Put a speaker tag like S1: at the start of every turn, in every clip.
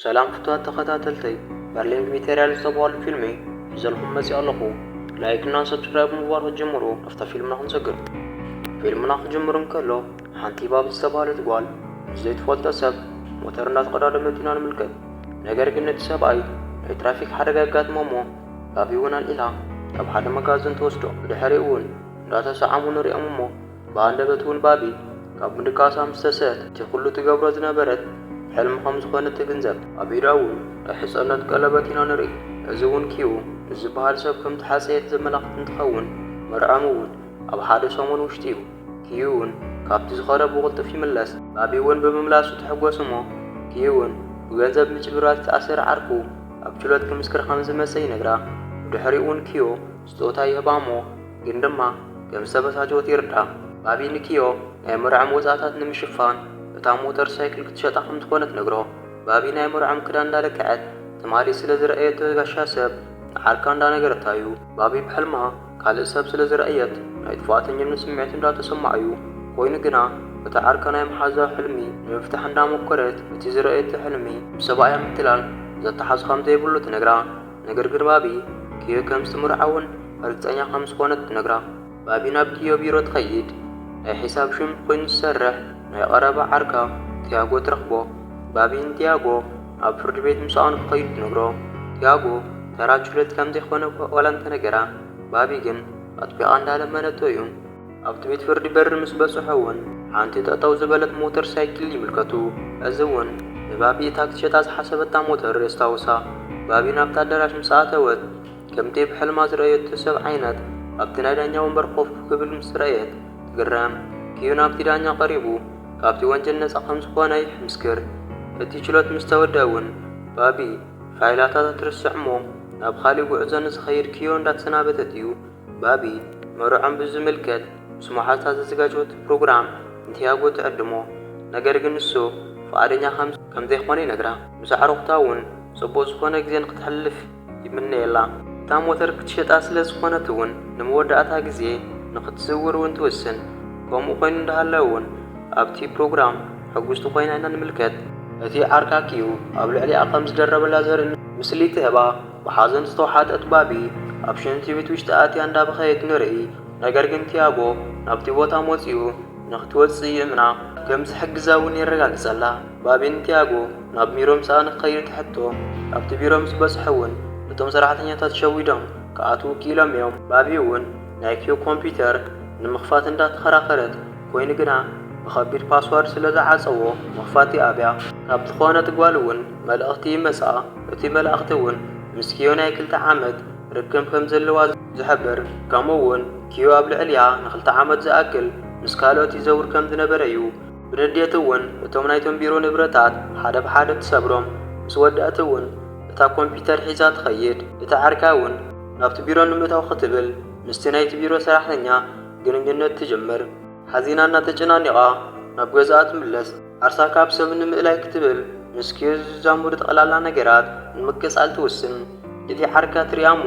S1: ሰላም ፍትዋት ተከታተልተይ በርሊን ቢሚተርያል ዝተብሃሉ ፊልሚ ሒዘልኩም መጺኣ ኣለኩ ላይክ እና ሰብስክራይብ ምግባር ክትጅምሩ ኣብታ ፊልምና ክንሰግር ፊልምና ክጅምር እንከሎ ሓንቲ ባቢ ዝተብሃለት ጓል ምስ ዘይትፈልጦ ሰብ ሞተር እንዳተቀዳደመት ኢና ንምልከት ነገር ግን እቲ ሰብኣይ ናይ ትራፊክ ሓደጋ የጋጥሞ እሞ ባቢ እውን ኣልዒላ ናብ ሓደ መጋዝን ትወስዶ ብድሕሪኡ እውን እንዳተሳዓሙ ንሪኦም እሞ ብሃንደበት ጉልባቢ ካብ ምድቃሳ ምስ ተሰእት እቲ ኩሉ ትገብሮ ዝነበረት ሕልሚ ከም ዝኾነት ትግንዘብ። ኣብ ኢዳ እውን ናይ ሕጸነት ቀለበት ኢና ንርኢ። እዚ እውን ኪው ንዝበሃል ሰብ ከም ተሓጸየት ዘመላኽት እንትኸውን መርዕኦም እውን ኣብ ሓደ ሰሙን ውሽጢ እዩ። ኪው እውን ካብቲ ዝኸደ ብቕልጡፍ ይምለስ። ባቢ እውን ብምምላሱ ትሕጎስ እሞ ኪው እውን ብገንዘብ ምጭብርባር ዝተኣሰረ ዓርኩ ኣብ ችሎት ክምስክር ከም ዝመጸ ይነግራ። ብድሕሪኡ እውን ኪው ስጦታ ይህባ እሞ ግን ድማ ከም ዝተበሳጨወት ይርዳእ። ባቢ ንኪዮ ናይ መርዕኦም ወጻእታት ንምሽፋን እታ ሞተር ሳይክል ክትሸጣ ከም ዝኾነ ትነግሮ። ባቢ ናይ መርዕኦም ክዳን እንዳለክዐት ትማሊ ስለ ዝረኣየቶ ጋሻ ሰብ ንዓርካ እንዳነገረታ'ዩ። ባቢ ብሕልማ ካልእ ሰብ ስለ ዝረኣየት ናይ ጥፍኣተኝነት ስምዒት እንዳተሰምዓ'ዩ። ኮይኑ ግና እታ ዓርካ ናይ ምሓዛ ሕልሚ ንምፍታሕ እንዳሞከረት እቲ ዝረኣየቶ ሕልሚ ምስ ሰብኣያ ምትላል ዘተሓሕዞ ከም ዘይብሉ ትነግራ። ነገር ግን ባቢ ኪዮ ከም ዝትምርዖ ውን ርግጸኛ ከም ዝኾነት ትነግራ። ባቢ ናብ ኪዮ ቢሮ ትኸይድ። ናይ ሒሳብ ሹም ኮይኑ ዝሰርሕ ናይ ቐረባ ዓርካ ቲያጎ ትረኽቦ። ባቢ ንቲያጎ ናብ ፍርድ ቤት ምሳኡ ንክኸይዱ ትነግሮ። ቲያጎ ተራ ችሎት ከም ዘይኮነ ዋላ እንተነገራ ባቢ ግን ኣጥቢቓ እንዳለመነቶ ዩ። ኣብቲ ቤት ፍርዲ በሪ ምስ በጽሑ እውን ሓንቲ ጠጠው ዝበለት ሞተር ሳይክል ይምልከቱ። እዚ እውን ንባቢ እታ ክትሸጣ ዝሓሰበታ ሞተር የስታውሳ። ባቢ ናብቲ ኣዳራሽ ምስ ኣተወት ከምቲ እብ ሕልማ ዝረኣየቶ ሰብ ዓይነት ኣብቲ ናይ ዳኛ ወንበር ኮፍ ክብል ምስ ረኣየት ትግረም። ክዩ ናብቲ ዳኛ ቀሪቡ ካብቲ ወንጀል ነጻ ከም ዝኾነ ይሕምስክር። እቲ ችሎት ምስ ተወደኣ እውን ባቢ ፋይላታታ ትርስዕ እሞ ናብ ኻሊእ ጉዕዞ ንዝኸይድ ክዮ እንዳተሰናበተት እዩ ባቢ መርዕኦም ብዝምልከት ምስ መሓዝታ ዘዘጋጀወቶ ፕሮግራም ንቲያጎ ትዕድሞ፣ ነገር ግን ንሱ ፍቓደኛ ከም ዘይኰነ ይነግራ። ምስ ኣዕሩኽታ እውን ጽቡቕ ዝዀነ ግዜ ንኽተሕልፍ ይምነየላ። እታ ሞተር ክትሸጣ ስለ ዝዀነት እውን ንመወዳእታ ግዜ ንኽትዝውር እውን ትውስን። ከምኡ ኰይኑ እንዳሃለወ እውን ኣብቲ ፕሮግራም ሕጕስቲ ኰይና ኢና ንምልከት። እቲ ዓርካኪኡ ኣብ ልዕሊኣ ከም ዝደረበላ ዘርኢ ምስሊ ትህባ። ብሓዘን ዝተውሓጠት ባቢ ኣብ ሽንቲ ቤት ውሽጢ ኣትያ እንዳበኸየት ንርኢ። ነገር ግን ቲያጎ ናብቲ ቦታ መጺኡ ንኽትወጽእ ይእምና። ከም ዝሕግዛ እውን የረጋግጸላ። ባቢ ንቲያጎ ናብ ሚሮ ምሳኣ ንኽኸይድ ትሕቶ። ኣብቲ ቢሮ ምስ በጽሑ እውን እቶም ሰራሕተኛታት ሸዊዶም ክኣትዉ ክኢሎም እዮም። ባቢ እውን ናይ ኪዮ ኮምፒዩተር ንምኽፋት እንዳተኸራኸረት ኮይኑ ግና ብኸቢድ ፓስዋርድ ስለዝዓጸዎ ምኽፋት ይኣብያ። ካብቲ ዝኾነት ጓል እውን መልእኽቲ ይመጽኣ። እቲ መልኣኽቲ ውን ምስ ኪዮ ናይ ክልተ ዓመት ርክብ ከም ዘለዋ ዝሕብር ከምኡ ውን ኪዮ ኣብ ልዕሊኣ ንክልተ ዓመት ዝኣክል ምስ ካልኦት ይዘውር ከም ዝነበረ ዩ። ብንዴት ውን እቶም ናይቶም ቢሮ ንብረታት ሓደ ብሓደ ትሰብሮም፣ ምስ ወደኣት ውን እታ ኮምፒተር ሒዛ ትኸይድ፣ እታ ዓርካ ውን ናብቲ ቢሮ ንምእታው ክትብል ምስቲ ናይቲ ቢሮ ሰራሕተኛ ግንኙነት ትጅምር፣ ሓዚና እና ተጨናኒቓ ናብ ገዝኣ ትምለስ። ዓርሳ ካብ ሰብ ንምእላይ ክትብል ምስ ኪዮዝ ዝዛመዱ ጠቕላላ ነገራት ንምቅጻል ትውስን። ሊሊ ዓርካ ትሪኣ እሞ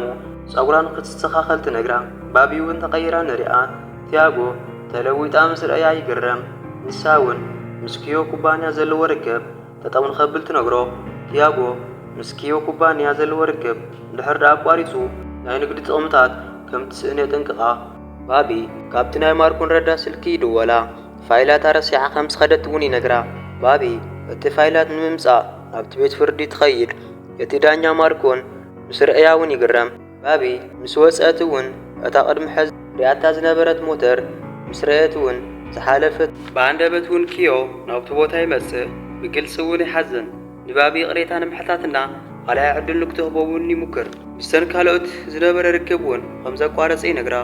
S1: ጸጉራ ንክትስተኻኸል ትነግራ። ባቢ እውን ተቐይራ ንሪኣ። ቲያጎ ተለዊጣ ምስ ረኣያ ይግረም። ንሳ እውን ምስ ኪዮ ኩባንያ ዘለዎ ርክብ ጠጠው ንኸብል ትነግሮ። ቲያጎ ምስ ኪዮ ኩባንያ ዘለዎ ርክብ እንድሕር ደኣ ኣቋሪጹ ናይ ንግዲ ጥቕምታት ከም ትስእን የጠንቅቓ። ባቢ ካብቲ ናይ ማርኮ ንረዳ ስልኪ ይድወላ። ፋይላታ ረሲዓ ከም ዝኸደት እውን ይነግራ። ባቢ እቲ ፋይላት ንምምጻእ ናብቲ ቤት ፍርዲ ትኸይድ፣ እቲ ዳኛ ማርኮን ምስ ርእያ እውን ይግረም። ባቢ ምስ ወጸት እውን እታ ቅድሚ ሕዚ ርእያታ ዝነበረት ሞተር ምስ ረኣየት እውን ዝሓለፈ። ብኣንደበት እውን ኪዮ ናብቲ ቦታ ይመጽእ፣ ብግልጺ እውን ይሓዝን። ንባቢ ይቕሬታ ንምሕታትና ኻልኣይ ዕድል ንክትህቦ እውን ይሙክር። ምስተን ካልኦት ዝነበረ ርክብ እውን ከም ዘቋረጸ ይነግራ፣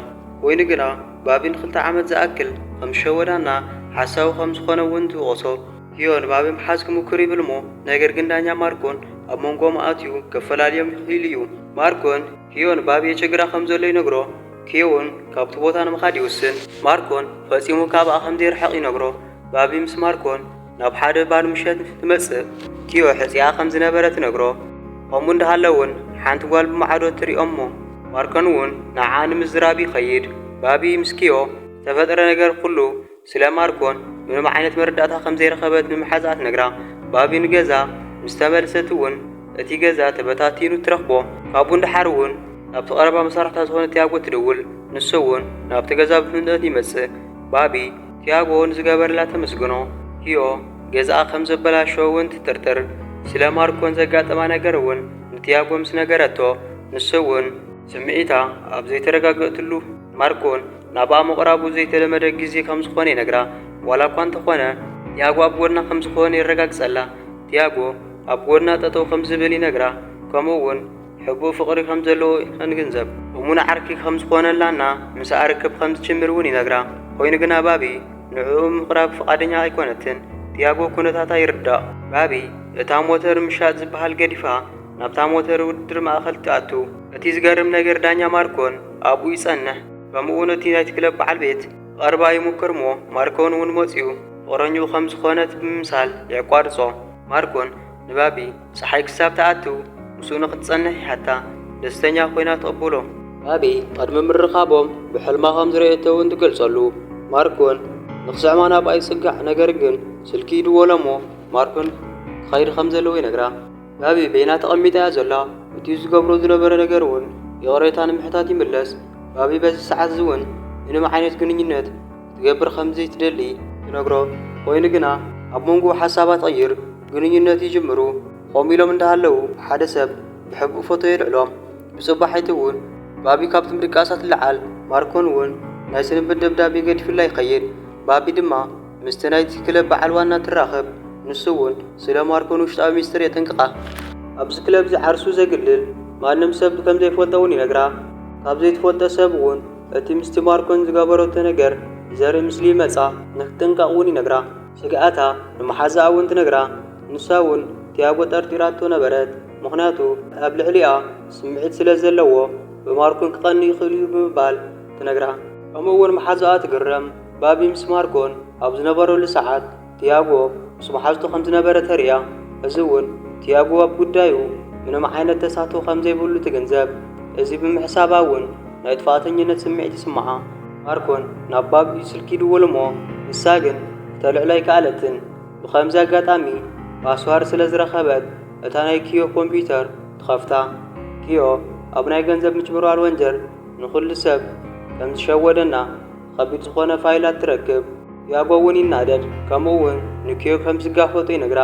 S1: ኰይኑ ግና። ባቢን ኽልተ ዓመት ዝኣክል ኸም ዝሸወዳ እና ሓሳዊ ኸም ዝኾነ እውን ትውቕሶ። ሂዮ ንባቢ ምሓዝ ክሙኩር ይብል እሞ ነገር ግን ዳኛ ማርኮን ኣብ ሞንጎኦም ኣእትዩ ከፈላልዮም ይኽኢሉ እዩ። ማርኮን ሂዮ ንባቢ የቸግራ ኸም ዘሎ ይነግሮ። ሂዮ እውን ካብቲ ቦታ ንምኻድ ይውስን። ማርኮን ፈፂሙ ካብኣ ኸም ዘይርሕቕ ይነግሮ። ባቢ ምስ ማርኮን። ናብ ሓደ ባር ምሸት ምስ እትመጽእ ቲዮ ሕጺኣ ከም ዝነበረ ትነግሮ። ከምኡ እንዳሃለ'ውን ሓንቲ ጓል ብማዕዶ ትሪኦ'ሞ ማርኮን'ውን ንዓኣ ንምዝራብ ይኸይድ። ባቢ ምስ ኪዮ ዝተፈጥረ ነገር ኩሉ ስለ ማርኮን ምንም ዓይነት መረዳእታ ከም ዘይረኸበት ንመሓዝኣ ትነግራ። ባቢ ንገዛ ምስ ተመልሰት'ውን እቲ ገዛ ተበታቲኑ ትረኽቦ። ካብኡ ንደሓር'ውን ናብቲ ቀረባ መሳርሕታ ዝኾነ ቲያጎ ትድውል። ንሱ'ውን ናብቲ ገዛ ብፍጥነት ይመጽእ። ባቢ። ቲያጎ ንዝገበረላ ተመስግኖ፣ ኪዮ ገዛኣ ከም ዘበላሸዎ እውን ትጥርጥር። ስለ ማርኮን ዘጋጠማ ነገር እውን ንቲያጎ ምስ ነገረቶ፣ ንሱ እውን። ስምዒታ ኣብ ዘይተረጋገእትሉ፣ ማርኮን ናብኣ ምቕራቡ ዘይተለመደ ግዜ ከም ዝዀነ ይነግራ። ዋላ እኳ እንተዀነ ቲያጎ ኣብ ጐድና ከም ዝዀነ የረጋግጸላ። ቲያጎ ኣብ ጐድና ጠጠው ከም ዝብል ይነግራ፣ ከምኡ እውን። ሕቡእ ፍቕሪ ከም ዘለዎ ኸንግንዘብ እሙን ዓርኪ ኸም ዝዀነላ እና ምስኣ ርክብ ኸም ዝጅምር እውን ይነግራ። ኰይኑ ግና፣ ባቢ ንዕኡ ንምቕራብ ፍቓደኛ ኣይኰነትን። ቲያጎ ኵነታታ ይርዳእ። ባቢ እታ ሞተር ምሻጥ ዝበሃል ገዲፋ ናብታ ሞተር ውድድር ማእከል ትኣቱ። እቲ ዝገርም ነገር ዳኛ ማርኮን ኣብኡ ይጸንሕ። ከምኡውን እቲ ናይቲ ክለብ በዓል ቤት ክቐርባ ይሙክር እሞ ማርኮን እውን መጺኡ ፍቕረኝኡ ኸም ዝዀነት ብምምሳል የቋርጾ። ማርኮን ንባቢ ጸሓይ ክሳብ ትኣቱ ምስኡ ንኽትጸንሕ ይሓታ። ደስተኛ ኰይና ትቕብሎ። ባቢ ቕድሚ ምርኻቦም ብሕልማ ኸም ዝረኣየቶ እውን ትገልጸሉ። ማርክን ንኽስዕማ ናብኣ ይጽጋዕ ነገር ግን ስልኪ ይድወሎ እሞ ማርክን ክኸይድ ኸም ዘለዎ ይነግራ። ባቢ በይና ተቐሚጣ እያ ዘላ። እቲ ዝገብሮ ዝነበረ ነገር እውን ይቕሬታ ንምሕታት ይምለስ። ባቢ በዚ ሰዓት እዚ እውን ምንም ዓይነት ግንኙነት ክትገብር ከም ዘይትደሊ ትነግሮ። ኾይኑ ግና ኣብ መንጎኡ ሓሳባ ትቕይር፣ ግንኙነት ይጅምሩ። ኾም ኢሎም እንዳሃለው ሓደ ሰብ ብሕቡእ ፎቶ የልዕሎም። ብጽባሒቱ ውን ባቢ ካብቲ ምድቃሳ ትለዓል። ማርኮን ውን ናይ ስንብት ደብዳቤ ገዲፉላ ይኸይድ። ባቢ ድማ ምስቲ ናይቲ ክለብ በዓል ዋና ትራኽብ። ንሱ ውን ስለ ማርኮን ውሽጣዊ ሚስጥር የጠንቅቓ። ኣብዚ ክለብዚ ዓርሱ ዘግልል ማንም ሰብ ከም ዘይፈልጦ ውን ይነግራ። ካብ ዘይትፈልጦ ሰብ ውን እቲ ምስቲ ማርኮን ዝገበረቶ ነገር ዘርኢ ምስሊ ይመጻ ንክትጥንቀቕ እውን ይነግራ። ስግኣታ ንመሓዛኣ እውን ትነግራ፣ ንሳ እውን ቲያጎ ጠርጢራቶ ነበረት፣ ምኽንያቱ ኣብ ልዕሊኣ ስምዒት ስለ ዘለዎ ብማርኮን ክቐንእ ይኽእል እዩ ብምባል ትነግራ። ከምኡ እውን መሓዛኣ ትግረም፣ ባቢ ምስ ማርኮን ኣብ ዝነበረሉ ሰዓት ቲያጎ ምስ መሓዝቱ ከም ዝነበረ ተርእያ፣ ሕዚ እውን ቲያጎ ኣብ ጉዳዩ ምንም ዓይነት ተሳትፎ ከም ዘይብሉ ትግንዘብ። እዚ ብምሕሳባ እውን ናይ ጥፍኣተኝነት ስምዒት ይስምዓ። ማርኮን ናብ ባብ'ዩ ስልኪ ይድውል እሞ ንሳ ግን ክተልዕሎ ኣይከኣለትን። ብኸምዚ ኣጋጣሚ ፓስዋርድ ስለ ዝረኸበት እታ ናይ ኪዮ ኮምፒዩተር ትኸፍታ። ኪዮ ኣብ ናይ ገንዘብ ምጭብርባር ወንጀል ንኹሉ ሰብ ከም ዝሸወደና፣ ኸቢድ ዝኾነ ፋይላት ትረክብ። ዲያጎ እውን ይናደድ ከምኡ እውን ንኪዮ ከም ዝጋፈጦ ይነግራ።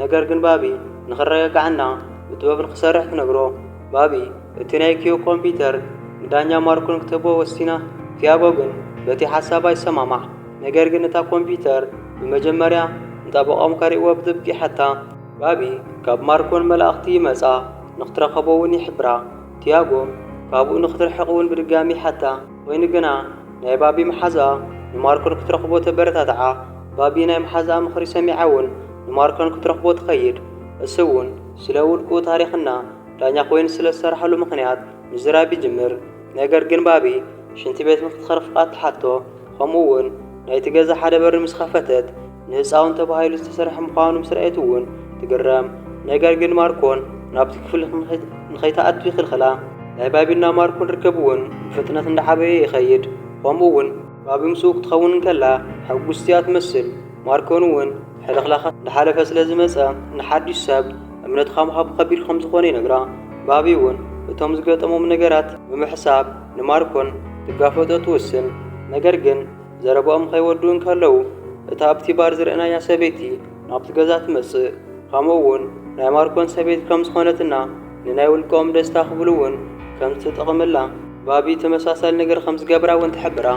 S1: ነገር ግን ባቢ ንኽረጋጋዕ እና ብጥበብ ንኽሰርሕ ትነግሮ። ባቢ እቲ ናይ ኪዮ ኮምፒዩተር ንዳኛ ማርኮ ንክትህቦ ወሲና። ቲያጎ ግን በቲ ሓሳባ ይሰማማዕ። ነገር ግን እታ ኮምፒዩተር ብመጀመርያ ንጠበቆም ከርእይዎ ብጥብቂ ይሓታ። ባቢ ካብ ማርኮን መላእኽቲ ይመጻ ንክትረከቦ እውን ይሕብራ። ቲያጎ ካብኡ ንክትርሕቅ እውን ብድጋሚ ይሓታ። ኮይኑ ግና ናይ ባቢ መሓዝኣ ንማርኮን ክትረኽቦ ተበረታትዓ። ባቢ ናይ መሓዝኣ ምኽሪ ሰሚዓ እውን ንማርኮን ክትረኽቦ ትኸይድ። እሱ እውን ስለ ውልቁኡ ታሪኽ እና ዳኛ ኮይኑ ስለ ዝሰረሓሉ ምኽንያት ምዝራብ ይጅምር። ነገር ግን ባቢ ሽንቲ ቤት ንክትኸርፍ ፍቓድ ትሓቶ። ከምኡ እውን ናይቲ ገዛ ሓደ በሪ ምስ ኸፈተት ንህጻውንቲ ተባሂሉ ዝተሰርሐ ምዃኑ ምስ ረኣየት እውን ትግረም። ነገር ግን ማርኮን ናብቲ ክፍሊ ንኸይትኣቱ ይኽልኽላ። ናይ ባቢን ናብ ማርኮን ርክብ እውን ብፍጥነት እንዳዓበየ ይኸይድ። ከምኡ እውን ባቢ ምስኡ ክትኸውን እንከላ ሕጉስቲ እያ ትመስል። ማርኮን እውን ሕልኽላኻት እንዳሓለፈ ስለ ዝመጸ ንሓድሽ ሰብ እምነትኻ ምሃብ ከቢድ ከም ዝኾነ ይነግራ። ባቢ እውን እቶም ዝገጠሞም ነገራት ብምሕሳብ ንማርኮን ክትጋፈጦ ትውስን። ነገር ግን። ዘረባኦም ኸይወድኡ እንከለዉ፣ እታ ኣብቲ ባር ዝርኣናያ ሰበይቲ ናብቲ ገዛ ትመጽእ፣ ኸምኡውን ናይ ማርኮን ሰበይቲ ከም ዝዀነትና ንናይ ውልቀኦም ደስታ ክብሉውን ከም ዝተጠቕምላ ባቢ ተመሳሳሊ ነገር ከም ዝገበራውን ትሕብራ።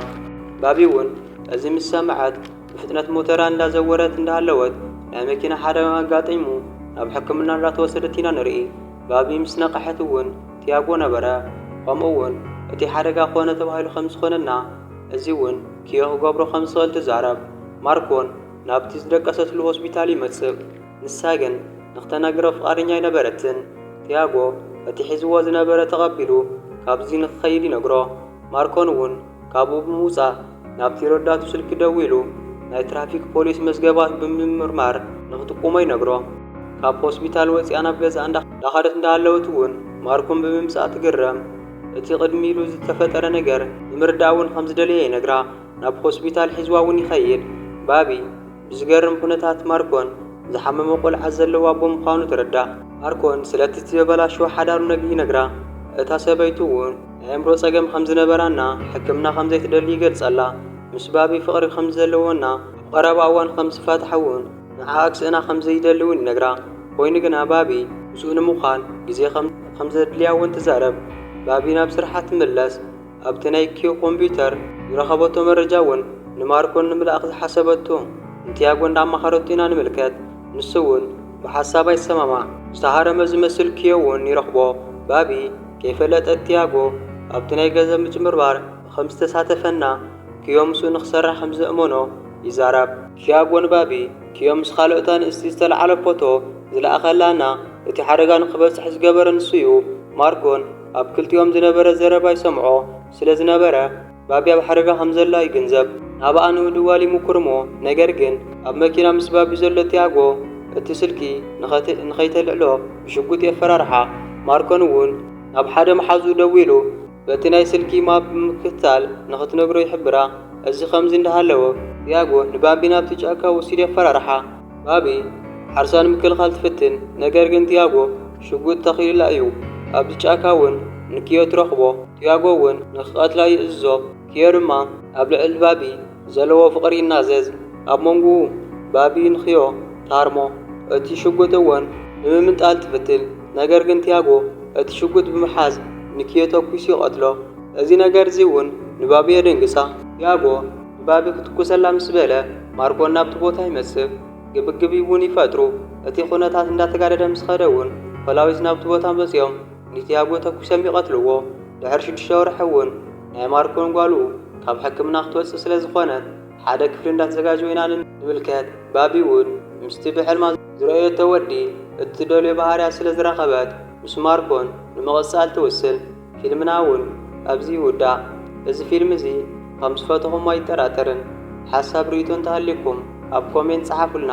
S1: ባቢውን እዚ ምስ ሰምዐት ብፍጥነት ሞተራ እንዳ ዘወረት እንዳሃለወት ናይ መኪና ሓደጋ ኣጋጢሙ ናብ ሕክምና እንዳ ተወሰደት ኢና ንርኢ። ባቢ ምስ ነቐሐትውን ቲያጎ ነበረ፣ ኸምኡውን እቲ ሓደጋ ዀነ ተባሂሉ ከም ዝዀነና፣ እዚ እውን ኪዮ ክገብሮ ከም ዝኽእል ትዛረብ። ማርኮን ናብቲ ዝደቀሰትሉ ሆስፒታል ይመጽእ፣ ንሳ ግን ንኽተናግሮ ፍቓደኛ ኣይነበረትን። ቲያጎ እቲ ሒዝዎ ዝነበረ ተቐቢሉ ካብዚ ንኽኸይድ ይነግሮ። ማርኮን እውን ካብኡ ብምውጻእ ናብቲ ረዳቱ ስልኪ ደዊሉ ናይ ትራፊክ ፖሊስ መዝገባት ብምምርማር ንኽጥቁሞ ይነግሮ። ካብ ሆስፒታል ወጺኣ ናብ ገዝኣ እንዳኸደት እንዳሃለወት እውን ማርኮን ብምምጽኣ ትግረም። እቲ ቅድሚ ኢሉ ዝተፈጠረ ነገር ንምርዳእ ውን ከም ዝደለየ ይነግራ። ናብ ሆስፒታል ሒዝዋ ውን ይኸይድ። ባቢ ብዝገርም ኩነታት ማርኮን ዝሓመመ ቆልዓ ዘለዎ ኣቦ ምዃኑ ትርዳእ። ማርኮን ስለቲ ዝተበላሸወ ሓዳሩ ነግ ይነግራ። እታ ሰበይቱ ውን ናይ ኣእምሮ ጸገም ከም ዝነበራ እና ሕክምና ከም ዘይትደሊ ይገልጸላ። ምስ ባቢ ፍቕሪ ከም ዘለዎን እና ኣብ ቐረባ እዋን ከም ዝፋትሓ ውን ንዓኣ ክስእና ከም ዘይደሊ እውን ይነግራ። ኰይኑ ግና፣ ባቢ ምስኡ ንምዃን ግዜ ከም ዘድልያ እውን ትዛረብ። ባቢ ናብ ስርሓ ትምለስ። ኣብቲ ናይ ኪው ኮምፕዩተር ዝረኸበቶ መረጃ እውን ንማርኮ ንምልኣኽ ዝሓሰበቶ ንቲያጎ እንዳ ኣማኸረቶ ኢና ንምልከት። ንሱ እውን ብሓሳባ ይሰማማዕ። ዝተሃረመ ዝመስል ኪዮ እውን ይረኽቦ። ባቢ ከይፈለጠት ቲያጎ ኣብቲ ናይ ገንዘብ ምጭብርባር ከም ዝተሳተፈና ክዮ ምስኡ ንክሰርሕ ከም ዘእመኖ ይዛራብ። ክያ ኣጎንባቢ ክዮ ምስ ካልኦት ኣንእስቲ ዝተልዓለ ፖቶ ዝለኣኸላ እና እቲ ሓደጋ ንክበፅሕ ዝገበረ ንሱዩ። ማርኮን ኣብ ክልቲኦም ዝነበረ ዘረባ ይሰምዖ ስለ ዝነበረ ባቢ ኣብ ሓደጋ ከም ዘላ ይግንዘብ። ናብኣ ንምድዋል ይሙኩር እሞ ነገር ግን ኣብ መኪና ምስ ባቢ ዘሎ ትያጎ እቲ ስልኪ ንከይተልዕሎ ብሽጉጥ የፈራርሓ። ማርኮን እውን ናብ ሓደ መሓዝኡ ደዊሉ። በቲ ናይ ስልኪ ማፕ ብምክትታል ንኽትነግሮ ይሕብራ። እዚ ከምዚ እንዳሃለወ፣ ዲያጎ ንባቢ ናብቲ ጫካ ወሲዱ የፈራርሓ። ባቢ ዓርሳ ንምክልኻል ትፍትን፣ ነገር ግን ዲያጎ ሽጉጥ ተኺሉላ እዩ። ኣብዚ ጫካ እውን ንኪዮ ትረኽቦ፣ ዲያጎ እውን ንኽቐትላ ይእዝዞ፣ ኪዮ ድማ ኣብ ልዕሊ ባቢ ዘለዎ ፍቕሪ ይናዘዝ። ኣብ መንጉኡ ባቢንክዮ ታርሞ እቲ ሽጉጥ እውን ንምምንጣል ትፍትን፣ ነገር ግን ቲያጎ እቲ ሽጉጥ ብምሓዝ ንክዮ ተኲሱ ይቐትሎ። እዚ ነገር እዚ እውን ንባቢ የደንግጻ። ቲያጎ ንባቢ ክትኩሰላ ምስ በለ ማርኮ ናብቲ ቦታ ይመጽእ። ግብግብ እውን ይፈጥሩ። እቲ ዅነታት እንዳተጋደደ ምስ ኸደ እውን ፖላዊስ ናብቲ ቦታ መጺኦም። ንቲያጎ ተኲሶም ይቐትልዎ። ድሕሪ ሽዱሽተ ወርሒ እውን ናይ ማርኮን ጓሉ ካብ ሕክምና ክትወጽእ ስለ ዝኾነት ሓደ ክፍሊ እንዳተዘጋጀወ ኢና ንምልከት። ባቢ እውን ምስቲ ብሕልማ ዝረኣየቶ ወዲ እትደልዮ ባህርያት ስለ ዝረኸበት ምስ ማርኮን ንምቕጻል ትውስን። ፊልምና እውን ኣብዚ ይውዳእ። እዚ ፊልም እዚ ከም ዝፈተኹሞ ኣይጠራጠርን። ሓሳብ ርእይቶ እንተሃልዩኩም ኣብ ኮሜንት ጸሓፉልና።